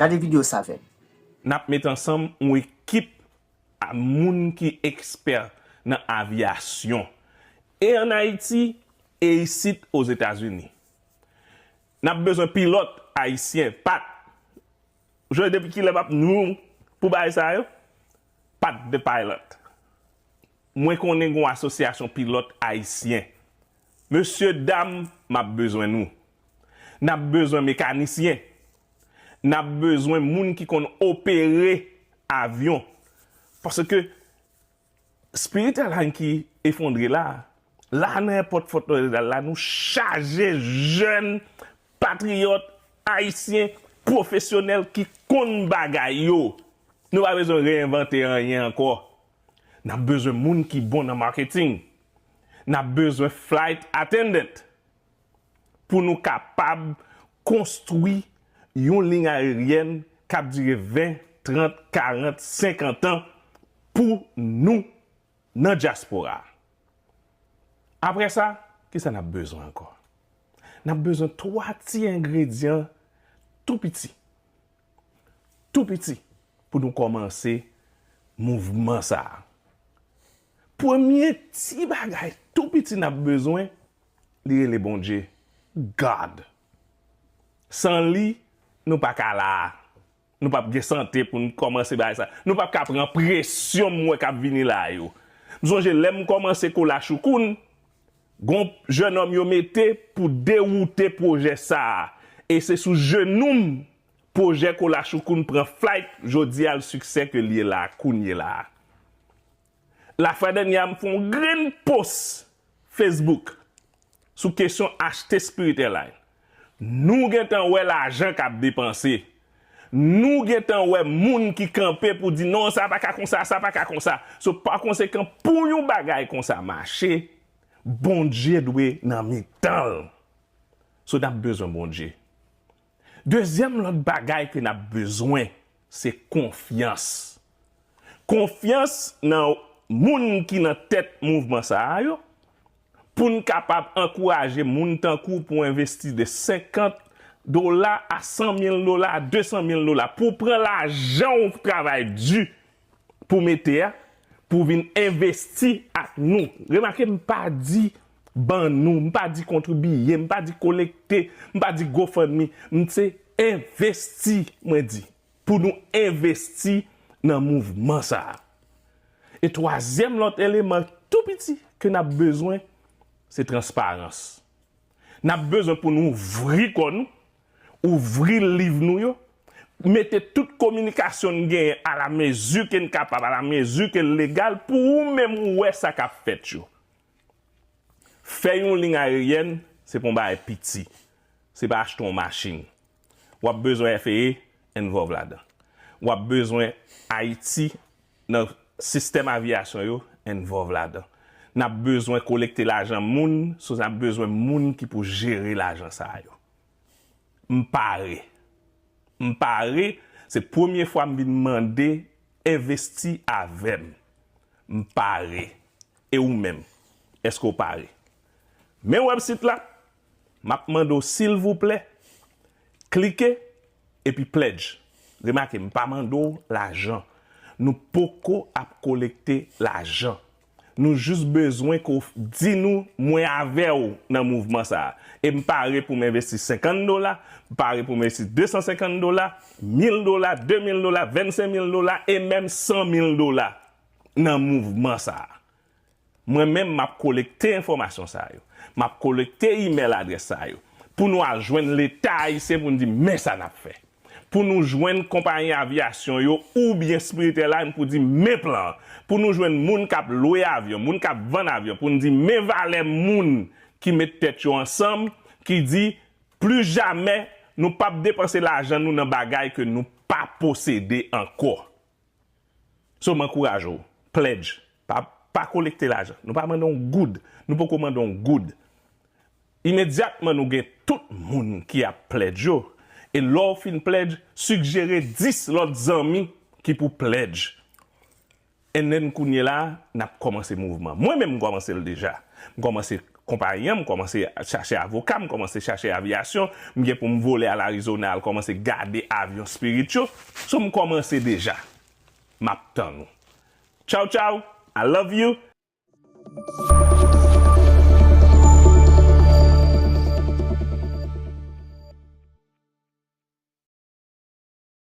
Gade video sa avèm. Nap met ansanm yon ekip a moun ki ekspè nan avyasyon, e an Ayiti e isit Ozetazini. Nap bezwen pilòt ayisyen pat Joe depi kilè map n room pou bagay sa yo? Pat de pilot. Mwen konnen gon asosyasyon pilot ayisyen. Mesye dam map bezwen nou. Nap bezwen mekanisyen. Nap bezwen moun ki konn opere avyon. Paske. Spiritual Hanky efondre la. La nan èpòt Fort Lauderdale la nou chaje jèn patriyòt ayisyen pwofesyonèl ki konn bagay yo. Nou pa bezwen reyenvante anyen ankò. N ap bezwen moun ki bon nan marketing. N ap bezwen flight attendant. pou nou kapab konstwi yon liy ayeryèn k ap dire 20, 30, 40, 50 an pou nou nan dyaspora a. Apre sa, ki sa n ap bezwen ankò? N ap bezwen 3 ti engredyan tou piti, tou piti pou nou kòmanse mouvman sa a. Premye ti bagay tou piti n ap bezwen, Li rele Bondye God. San li, nou pa ka la a. Nou pap gen sante pou n kòmanse bagay sa. Nou pap ka pran presyon m wè k ap vini la a yo. M sonje lè m kòmanse kou la choukoun, gon jenòm yo mete pou dewoute pwojè sa a. E se sou jenou m pwojè kou la choukoun pran flight jodi a l siksè ke l ye la a kounye la a. La fradanya m fon grenn post Facebook sou kesyon achte spirit airline. Nou gentan wè lajan kap depanse. Nou gentan wè moun ki kanpe pou di non sa paka konsa, sa paka konsa. So pa konsekan pou yon bagay konsa mache, Bondye dwe nan mitanl. So nap bezwen Bondye. Dezyèm lòt bagay ke nap bezwen se konfyans. Konfyans nan moun ki nan tèt mouvman sa a yo, pou n kapab ankouraje moun tankou w pou envesti de 50 dola a 100 mil dola a 200 mil dola pou w pran lajan w travay di. pou mete a pou vin envesti ak nou. Remake m pa di ban nou, m pa di kontribiye, m pa di kolekte, m pa di gofundme, m se envesti mwen di pou nou envesti nan mouvman sa a. E twazyèm lòt eleman tou piti ke n ap bezwen se transparans. N ap bezwen pou nou ouvri kò nou, ouvri liv nou yo, mete tout kominikasyon n genyen alamezi ke n kapab, alamezi ke l legal pou ou menm ou wè sa k ap fèt yo. Fè yon liy ayeryèn se pa yon bagay piti, se pa achte yon machin. W ap bezwen FAA envòlv ladan. W ap bezwen Ayiti. nan sistèm aviyasyon yo envòlv ladan. N ap bezwen kolekte lajan moun so n ap bezwen moun ki pou jere lajan sa yo. M pare. M pare, se premye fwa m vin mande envesti avè m. M pare. E ou menm, èske w pare? Men wèbsit la, m ap mande w silvouplè, Klike epi pledge. Remake m pa mande w lajan. Nou poko ap kolekte lajan. Nou jis bezwen ke w di nou mwen avè w nan mouvman sa a. E m pare pou m envesti 50 dola, m pare pou m envesti 250 dola, 1000 dola, 2000 dola, 25 mil dola e menm 100 mil dola nan mouvman sa a. Mwen menm m ap kolekte enfòmasyon sa yo, m ap kolekte imèl adrès sa yo, pou nou al jwenn Leta ayisyen pou n di men sa n ap fè. Pou nou jwenn konpayi aviyasyon yo oubyen Spirit Airline pou di men plan an. Pou nou jwenn moun k ap lwe avyon, moun k ap vann avyon pou n di men valè moun ki met tèt yo ansanm ki di plis jamè nou p ap depanse lajan nou nan bagay ke nou pa posede ankò. So m ankouraje w, pledge, pa pa kolekte lajan. Nou pa mande yon goud, nou poko mande yon goud. Imedyatman nou gen tout moun ki ap pledge yo, e lè w fin pledge, sigjere 10 lòt zanmi ki pou pledge. And then kounyela a, n ap kòmanse mouvman. Mwen menm m kòmanse l deja. M kòmanse Konpayi an, m kòmanse chache avoka, m kòmanse chache aviyasyon, m gen pou m vole al Arizona al kòmanse gade avyon Spirit yo. So m kòmanse deja. M ap tann ou. Tchaw tchaw, I love you!